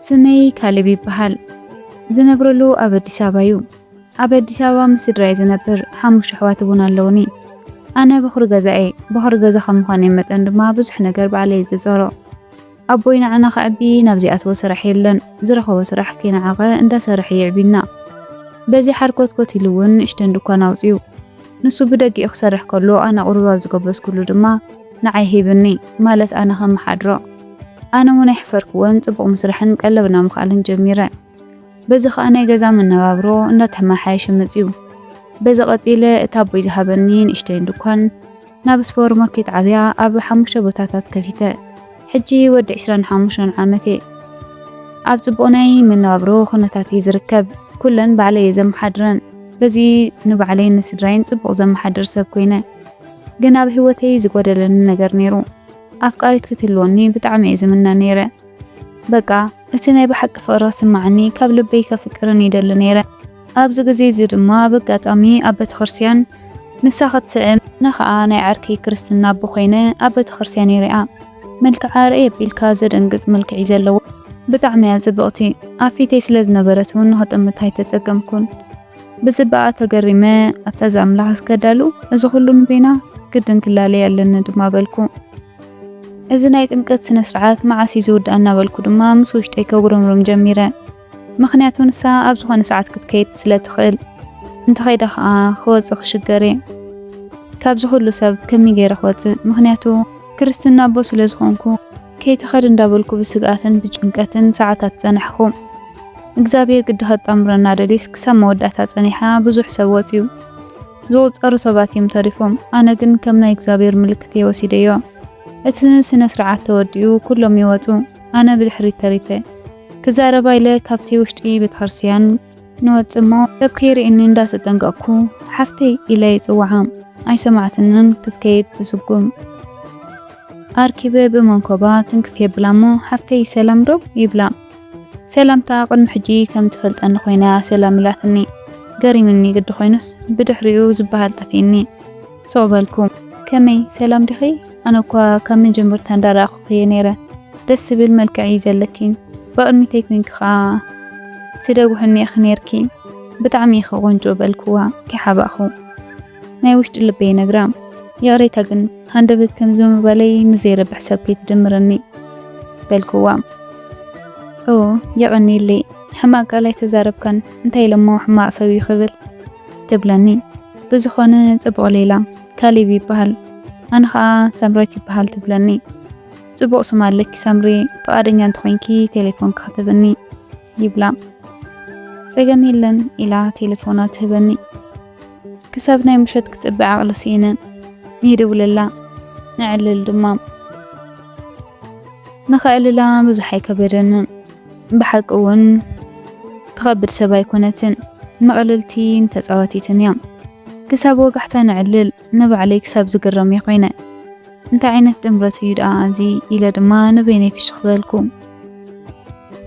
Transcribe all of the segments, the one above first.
ስመይ ካሌብ ይበሃል። ዝነብረሉ ኣብ ኣዲስ ኣበባ እዩ። ኣብ ኣዲስ ኣበባ ምስ ስድራይ ዝነብር ሓሙሽተ ኣሕዋት እውን ኣለውኒ። ኣነ በኹሪ ገዛ እየ። በኹሪ ገዛ ከም ምዃነይ መጠን ድማ ብዙሕ ነገር ባዕለይ ዝፀሮ ኣቦይ ንዓና ከዕቢ ናብ ዘይኣትዎ ስራሕ የለን ዝረኸቦ ስራሕ ከይነዓቐ እንዳሰርሐ የዕብዩና በዚ ሓርኮትኮት ኢሉ ውን ንእሽተን ድኳን ኣውጺኡ ንሱ ብደጊኡ ክሰርሕ ከሎ ኣነ ቁሩብ ኣብ ዝጎበዝኩሉ ድማ ንዓይ ሂብኒ ማለት ኣነ ከመሓድሮ ኣነ ውን ኣይሕፈርክዎን ጽቡቕ ምስራሕን ቀለብና ምኽኣልን ጀሚረ በዚ ከኣ ናይ ገዛ መነባብሮ እንዳተመሓየሸ መጺኡ በዚ ቀጺለ እቲ ኣቦይ ዝሃበኒ ንእሽተይን ድኳን ናብ ስፖር ማኬት ዓብያ ኣብ ሓሙሽተ ቦታታት ከፊተ ሕጂ ወዲ ዕስራን ሓሙሽተን ዓመት እየ ኣብ ጽቡቕ ናይ መነባብሮ ኩነታት እየ ዝርከብ ኩለን ባዕለይ እየ ዘመሓድረን በዚ ንባዕለይን ንስድራይን ጽቡቕ ዘመሓድር ሰብ ኮይነ ግን ኣብ ህይወተይ ዝጎደለኒ ነገር ነይሩ ኣፍቃሪት ክትህልወኒ ብጣዕሚ እየ ዝምነ ነይረ በቃ እቲ ናይ ብሓቂ ፍቕሪ ክስማዓኒ ካብ ልበይ ከፍቅርን ይደሊ ነይረ ኣብዚ ግዜ እዚ ድማ ብኣጋጣሚ ኣብ ቤተክርስቲያን ንሳ ክትስዕም ኣነ ከኣ ናይ ዓርከይ ክርስትና ኣቦ ኮይነ ኣብ ቤተክርስቲያን ይሪኣ መልክዓ ርእይ ኣቢልካ ዘደንግጽ መልክዕ'ዩ ዘለዋ ብጣዕሚ'ያ ጽብቕቲ ኣብ ፊተይ ስለ ዝነበረት ውን ንኽጥምታ ኣይተጸገምኩን ብጽባቐኣ ተገሪመ ኣታ እዛ ኣምላኽ ዝከዳሉ እዚ ኩሉ ንበይና ግድን ክላለይ ኣለኒ ድማ በልኩ እዚ ናይ ጥምቀት ስነ ስርዓት መዓስ እዩ ዝውዳእ እናበልኩ ድማ ምስ ውሽጠይ ከጉረምርም ጀሚረ ምኽንያቱ ንሳ ኣብ ዝኾነ ሰዓት ክትከይድ ስለ ትኽእል። እንተኸይዳ ከኣ ክወጽእ ክሽገር እየ። ካብዚ ኩሉ ሰብ ከመይ ገይረ ክወጽእ? ምኽንያቱ ክርስትና ኣቦ ስለ ዝኾንኩ ከይትኸድ እንዳበልኩ ብስግኣትን ብጭንቀትን ሰዓታት ጸናሕኩ። እግዚኣብሔር ግዲ ከጣምረና ደልዩስ ክሳብ መወዳእታ ጸኒሓ ብዙሕ ሰብ ወጽዩ። ዝቑጸሩ ሰባት እዮም ተሪፎም። ኣነ ግን ከም ናይ እግዚኣብሔር ምልክት እየ ወሲደዮ። እቲ ስነ ስርዓት ተወዲኡ ኩሎም ይወጹ። ኣነ ብድሕሪት ተሪፈ ክዛረባ ኢለ ካብቲ ውሽጢ ቤተክርስትያን ንወጽእ እሞ ሰብ ከይርእየኒ እንዳ ተጠንቀቕኩ ሓፍተይ ኢለ ይጽውዓ ኣይሰማዕትንን ክትከይድ ትስጉም ኣርኪበ ብመንኮባ ትንክፍ የብላ እሞ ሓፍተይ ሰላም ዶ ይብላ ሰላምታ ቅድሚ ሕጂ ከም ትፈልጠኒ ኮይና ሰላም ኢላትኒ ገሪምኒ ግዲ ኮይኑስ ብድሕሪኡ ዝበሃል ጠፊእኒ ሱቅ በልኩም ከመይ ሰላም ዲኺ ኣነ እኳ ካብ መጀመርታ እንዳ ረኣኹኺ እየ ነይረ ደስ ዝብል መልክዕ እዩ ዘለኪ ብቅድሚተይ ኮይንኪ ከዓ ትደጉሕኒ ኢኺ ነይርኪ ብጣዕሚ ኢኺ ቆንጆ በልክዋ ከይሓባእኹ ናይ ውሽጢ ልበይ ነግራ ይቅሬታ ግን ሃንደበት ከምዚ ምባለይ ንዘይረብሕ ሰብ ከይትድምርኒ በልክዋ ኦ የቀንየለይ ሕማቅ ቃል ኣይተዛረብካን እንታይ ኢለሞ ሕማቅ ሰብ እዩ ክብል ትብለኒ ብዝኾነ ጽቡቕ ሌላ ካሌብ ይበሃል ኣነ ከኣ ሰምሬት ይበሃል ትብለኒ ጽቡቕ ስም ኣለኪ ሰምሪ ፍቓደኛ እንተኾይንኪ ቴሌፎን ክትህብኒ ይብላ ጸገም የለን ኢላ ቴሌፎና ትህበኒ ክሳብ ናይ ምሸት ክጽበ ዓቕሊ ስኢነ ይድውለላ ነዕልል ድማ ንኸዕልላ ብዙሕ ኣይከበደንን ብሓቂ እውን ትኸብድ ሰብ ኣይኮነትን፣ ምቕልልቲን ተጻዋቲትን እያ። ክሳብ ወጋሕታ ነዕልል ንባዕለይ ክሳብ ዝግረም እየ ኮይነ። እንታይ ዓይነት ጥምረት እዩ ደኣ እዚ ኢለ ድማ ንበይነይ ፍሽኽ በልኩ።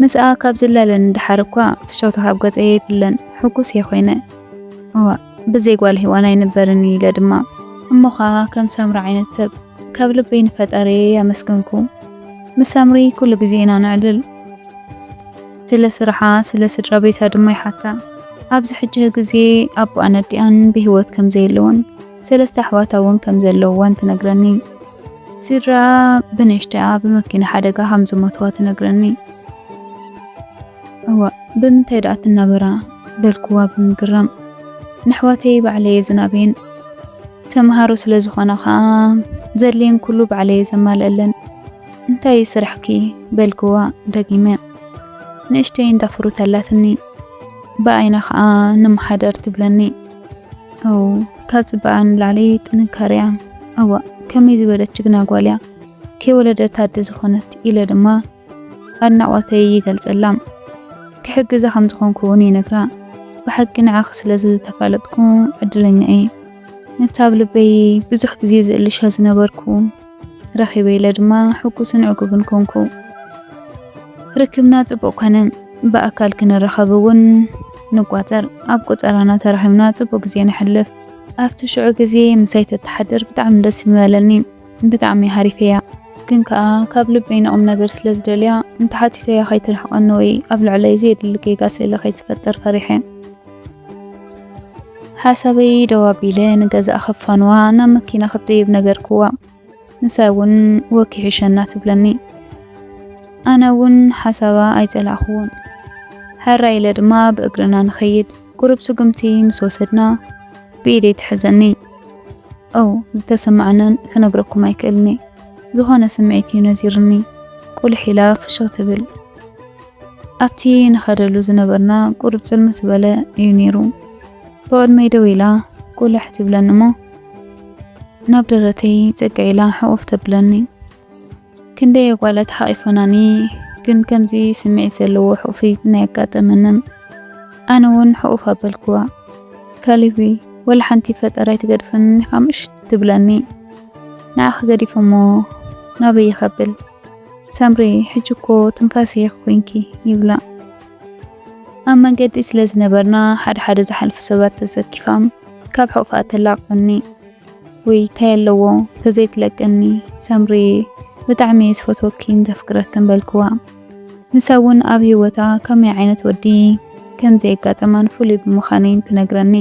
ምስኣ ካብ ዝላለ ንደሓር እኳ ፍሽኽታ ካብ ገጸይ ኣይፍለን፣ ሕጉስ እየ ኮይነ። እዋእ ብዘይ ጓል ሄዋን ኣይንበርን ኢለ ድማ እሞ ኸኣ ከም ሳምሪ ዓይነት ሰብ ካብ ልበይ ንፈጣሪየይ ኣመስገንኩ። ምስ ሳምሪ ኩሉ ግዜ ኢና ነዕልል። ስለ ስርሓ ስለ ስድራ ቤታ ድማ ይሓታ። ኣብዚ ሕጂ ግዜ ኣቦኣን ኣዲኣን ብህይወት ከም ዘየለዉን ሰለስተ ኣሕዋታ እውን ከም ዘለዉዋን ትነግረኒ። ስድራኣ ብንእሽተይኣ ብመኪና ሓደጋ ከም ዝሞትዋ ትነግረኒ። እዋእ ብምንታይ ድኣ ትናበራ በልኩዋ ብምግራም። ነሕዋተይ ባዕለየ ዝናብየን ተምሃሮ ስለ ዝኾና ከኣ ዘድልየን ኩሉ ባዕለየ ዘማልኣለን። እንታይ እዩ ስራሕኪ በልኩዋ ደጊመ ንእሽተይ እንዳ ፍሩት ኣላትኒ ብኣይና ከኣ ንመሓደር ትብለኒ። ኣው ካብ ጽባቐኣ ንላዕሊ ጥንካረያ እዋእ ከመይ ዝበለት ጅግና ጓልያ ከይወለደት ኣደ ዝኾነት ኢለ ድማ ኣድናቖተይ ይገልጸላ፣ ክሕግዛ ከም ዝኾንኩ እውን ይነግራ። ብሓቂ ንዓኺ ስለ ዝተፋለጥኩ ዕድለኛ እየ። ነቲ ኣብ ልበይ ብዙሕ ግዜ ዝእልሾ ዝነበርኩ ረኺበ ኢለ ድማ ሕጉስን ዕጉብን ኮንኩ። ርክብና ጽቡቕ ኮነ። ብኣካል ክንራኸብ እውን ንቋጸር። ኣብ ቆጸራና ተራኺብና ጽቡቕ ግዜ ነሕልፍ። ኣብቲ ሽዑ ግዜ ምሳይ ተተሓድር ብጣዕሚ ደስ ምበለኒ። ብጣዕሚ ሃሪፈያ ግን ከኣ ካብ ልበይ ንቁምነገር ስለ ዝደልያ እንተሓቲተያ ከይትርሕቀኒ ወይ ኣብ ልዕለይ ዘየድሊ ጌጋ ስእሊ ከይትፈጥር ፈሪሐ ሓሳበይ ደው ኣቢለ ንገዛእ ከፋንዋ ናብ መኪና ክትድይብ ነገርክዋ። ንሳ እውን ወኪሑ ሸና ትብለኒ። ኣነ እውን ሓሳባ ኣይጸላእክዎን። ሕራይ ኢለ ድማ ብእግርና ንኸይድ ቁሩብ ስጉምቲ ምስ ወሰድና ብኢደይ ትሕዘኒ። ኦው ዝተሰማዓንን ክነግረኩም ኣይክእልኒ ዝኾነ ስምዒት እዩ ነዚርኒ ቁልሕ ኢላ ፍሽኽ ትብል። ኣብቲ ንኸደሉ ዝነበርና ቁሩብ ጽልምት ዝበለ እዩ ነይሩ። ብቕድመይ ደው ኢላ ቁልሕ ትብለኒ እሞ ናብ ደረተይ ጽግዕ ኢላ ሕቑፍ ተብለኒ። ክንደይ ኣጓላት ሓቒፈናኒ ግን ከምዚ ስምዒት ዘለዎ ሕቑፊ ግን ኣየጋጠመንን ኣነ ውን ሕቑፍ ኣበልክዋ ካሌብይ ወላ ሓንቲ ፈጠር ኣይትገድፈንን ኢኻ ምሽ ትብለኒ ንዓኺ ገዲፈሞ ናበይ ይኸብል ሳምሪ ሕጂ እኮ ትንፋሰይ ኮይንኪ ይብላ ኣብ መንገዲ ስለ ዝነበርና ሓደ ሓደ ዝሓልፉ ሰባት ተሰኪፋም ካብ ሕቑፋ ተላቕቐኒ ውይ ታይ ኣለዎ ተዘይትለቅኒ ሰምርየ ብጣዕሚ እየ ዝፈትወኪን ዘፍቅረክን በልክዋ ንሳ እውን ኣብ ሂወታ ከመይ ዓይነት ወዲ ከም ዘየጋጠማን ፍሉይ ብምዃነይን ትነግረኒ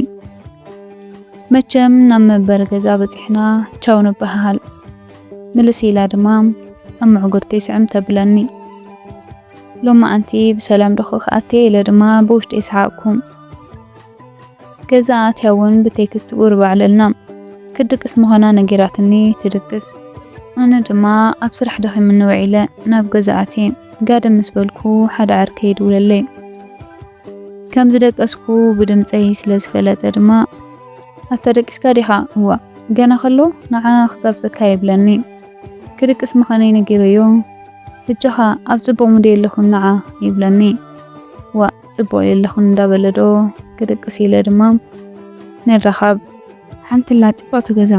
መቸም ናብ መንበሪ ገዛ በፂሕና ቻው ንበሃሃል ምልስ ኢላ ድማ ኣብ ምዕጉርተይ ስዕም ተብለኒ ሎማዓንቲ ብሰላም ዶኾ ክኣትየ ኢለ ድማ ብውሽጢ ሰሓቕኩ። ገዛ ኣትያ እውን ብቴክስት ቁሩብ ኣዕለልና። ክትድቅስ ምዃና ነጊራትኒ ትድቅስ። ኣነ ድማ ኣብ ስራሕ ደኺሙኒ ውዒለ ናብ ገዛ ኣትየ ጋደም ምስ በልኩ ሓደ ዓርከይ ይድውለለይ። ከም ዝደቀስኩ ብድምጸይ ስለ ዝፈለጠ ድማ ኣታ ደቂስካ ዲኻ? እዋ ገና ከሎ ንዓ ክጋብዘካ ይብለኒ። ክድቅስ ምዃነይ ነጊረዮ። በጃኻ ኣብ ጽቡቕ ሙድ የለኹን ንዓ ይብለኒ። ዋእ! ጽቡቕ የለኹን እንዳበለ ዶ ክድቅስ ኢለ ድማ ንራኻብ ሓንትላ ጽብቕቲ ገዛ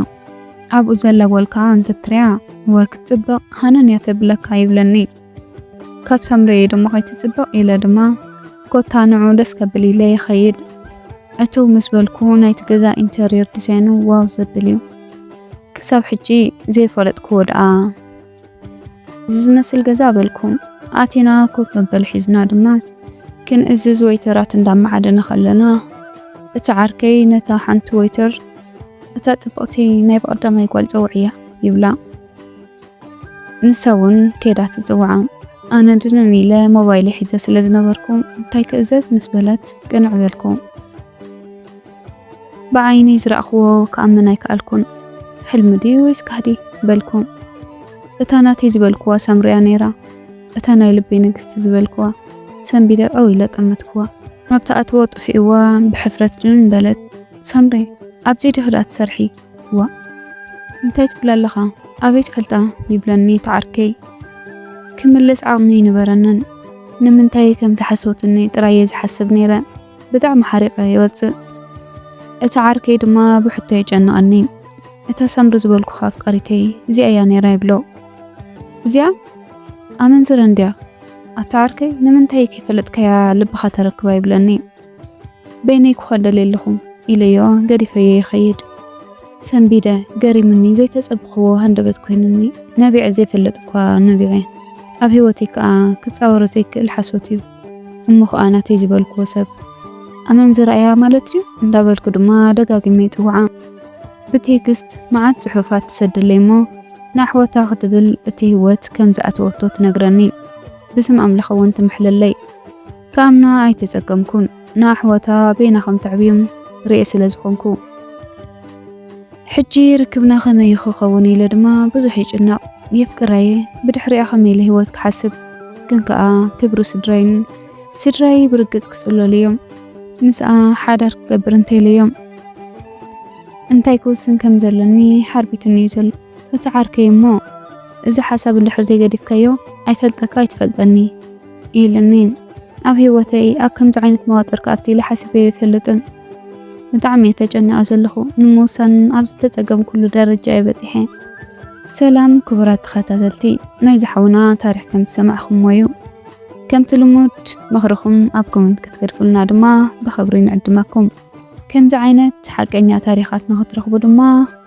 ኣብኡ ዘላ ጓል ከዓ እንተትሪያ እወ ክትጽብቕ ሃነን እያ ተብለካ ይብለኒ ካብ ሳምረ እየ ድማ ከይትጽብቕ ኢለ ድማ ኮታ ንዑ ደስ ከብል ኢለ ይኸይድ እቱ ምስ በልኩ ናይቲ ገዛ ኢንተሪየር ዲዛይኑ ዋው ዘብል እዩ ክሳብ ሕጂ ዘይፈለጥክዎ ደኣ እዚ ዝመስል ገዛ በልኩም ኣቲና ኮፍ መበል ሒዝና ድማ ክንእዝዝ ወይተራት እንዳማዓደና ከለና እቲ ዓርከይ ነታ ሓንቲ ወይተር እታ ጽብቕቲ ናይ ብቐዳማይ ጓል ጸውዕያ ይብላ። ንሳ እውን ከይዳ ትጽውዓ። ኣነ ድንን ኢለ ሞባይል ሒዘ ስለ ዝነበርኩ እንታይ ክእዘዝ ምስ በለት ቅንዕ በልኩ። ብዓይነይ ዝረኣኽዎ ክኣምን ኣይከኣልኩን። ሕልሚ ድዩ ወይስ ጋህዲ? በልኩ። እታ ናተይ ዝበልክዋ ሳምሪ'ያ ነይራ። እታ ናይ ልበይ ንግስቲ ዝበልክዋ ሰንቢደ ዐው ኢለ ጠመትክዋ። ኣብ ትኣትዎ ጥፊእዋ ብሕፍረት ድንን በለት። ሳምሪ! ኣብዚ'ዶ ድኣ ትሰርሒ? ዋእ! እንታይ ትብል ኣለኻ? ኣበይ ትፈልጣ? ይብለኒ እቲ ዓርከይ። ክምልስ ዓቕሚ ኣይነበረንን። ንምንታይ ከም ዝሓሰወትኒ ጥራይ'የ ዝሓስብ ነይረ። ብጣዕሚ ሓሪቐ ይወጽእ እቲ ዓርከይ ድማ ብሕቶ የጨንቐኒ እታ ሳምሪ ዝበልኩኻ ኣፍቃሪተይ እዚኣ እያ ነይራ ይብሎ እዚኣ ኣመንዝረ እንድያ ኣታ ዓርከይ ንምንታይ ከይፈለጥካያ ልብኻ ተረክባ ይብለኒ በይነይ ክኾን ደልየ ኣለኹ ኢለዮ ገዲፈዮ ይኸይድ ሰንቢደ ገሪሙኒ ዘይተጸብኽዎ ሃንደበት ኮይንኒ ነቢዐ ዘይፈለጥ እኳ ነቢዐ ኣብ ህይወተይ ከኣ ክጻወሮ ዘይክእል ሓሶት እዩ እሞ ኸኣ ናተይ ዝበልክዎ ሰብ ኣመንዝራ እያ ማለት እዩ እንዳበልኩ ድማ ደጋጊመ ይጽውዓ። ብቴክስት መዓት ጽሑፋት ትሰደለይ እሞ ንኣሕዋታ ክትብል እቲ ህይወት ከም ዝኣተወቶ ትነግረኒ። ብስም ኣምላኽ እውን ትምሕለለይ። ክኣምና ኣይተጸገምኩን። ንኣሕዋታ በይና ከም ተዕብዮም ርእየ ስለ ዝኾንኩ። ሕጂ ርክብና ከመይ እዩ ክኸውን ኢለ ድማ ብዙሕ ይጭነቕ። የፍቅራ'የ፣ ብድሕሪኣ ከመይ ኢለ ህይወት ክሓስብ። ግን ከኣ ክብሪ ስድራይን ስድራይ ብርግጽ ክጽለሉ እዮም። ምስኣ ሓዳር ክገብር እንተ ኢለዮም እንታይ ክውስን ከም ዘለኒ ሓርቢቱኒ እዩ ዘሎ። እቲ ዓርከይ እሞ እዚ ሓሳብ እንድሕር ዘይገዲፍካዮ ኣይፈልጠካ ኣይትፈልጠኒ ኢልኒ ኣብ ሂወተይ ኣብ ከምዚ ዓይነት መዋጥር ክኣቱ ኢለ ሓሲበዮ ኣይፈልጥን ብጣዕሚ እየ ተጨኒቀ ዘለኩ ንምውሳን ኣብ ዝተጸገምኩሉ ደረጃ እየ በጺሐ። ሰላም ክቡራት ተኸታተልቲ ናይ ዝሓውና ታሪኽ ከም ዝሰማዕኹሞ እዩ ከምቲ ልሙድ ምኽርኹም ኣብ ኮሜንት ክትገድፉልና ድማ ብኽብሪ ንዕድመኩም ከምዚ ዓይነት ሓቀኛ ታሪኻት ንኽትረኽቡ ድማ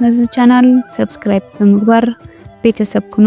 ነዚ ቻናል ሰብስክራይብ ብምግባር ቤተሰብ ኩኑ።